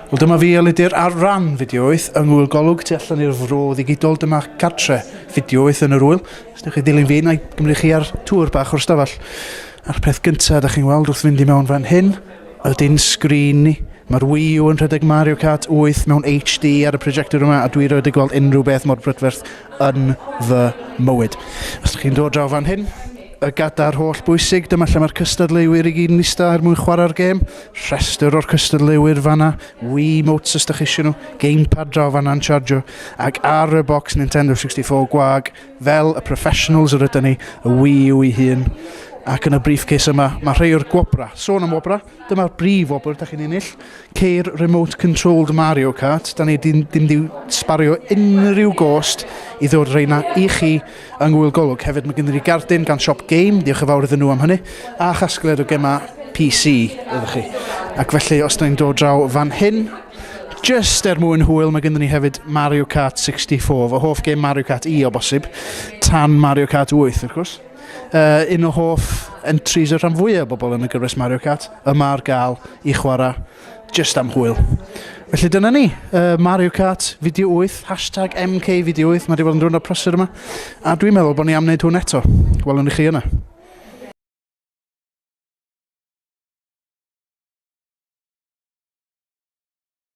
Wel dyma fi ylidir ar ran fideoeth yng ngwyl golwg tu allan i'r fro ddigidol dyma cartre fideoeth yn yr wyl. Os ydych chi dilyn fi, na i gymryd chi ar tŵr bach o'r stafell. A'r peth gyntaf ydych chi'n weld wrth fynd i mewn fan hyn ydy'n sgrin ni. Mae'r Wii U yn rhedeg Mario Kart 8 mewn HD ar y projector yma a dwi rioed wedi gweld unrhyw beth mor brydferth yn fy mywyd. Os chi'n dod draw fan hyn, y gadar holl bwysig, dyma lle mae'r cystadleuwyr i gyd yn eistedd er mwyn chwarae'r gêm. Rhestr o'r cystadleuwyr fanna, Wii Motes os da chi eisiau nhw, gamepad draw fanna'n chargio, ac ar y box Nintendo 64 gwag, fel y professionals yr ydyn ni, y Wii yw ei hun. Ac yn y briefcase yma, mae rhai o'r gwobrau. Sôn am wobrau, Dyma'r brif wobr da chi'n ennill. Ceir remote controlled Mario Kart. Da ni ddim wedi sbario unrhyw gost i ddod reina i chi yng Ngwyl Golwg. Hefyd mae gennym ni gardyn gan Siop Game, diolch yn fawr iddyn nhw am hynny, a chasgliad o gemau PC ydych chi. Ac felly, os da ni'n dod draw fan hyn, just er mwyn hwyl, mae gennym ni hefyd Mario Kart 64, fy hoff gêm Mario Kart i o bosib, tan Mario Kart 8 wrth gwrs. Uh, un o hoff entries y rhan fwyaf o bobl yn y gyfres Mario Kart, yma ar gael i chwarae just am hwyl. Felly dyna ni, uh, Mario Kart, fideo 8, hashtag MK fideo 8, mae wedi bod yn rhywun o'r prosur yma, a dwi'n meddwl bod ni am wneud hwn eto. Welwn i chi yna.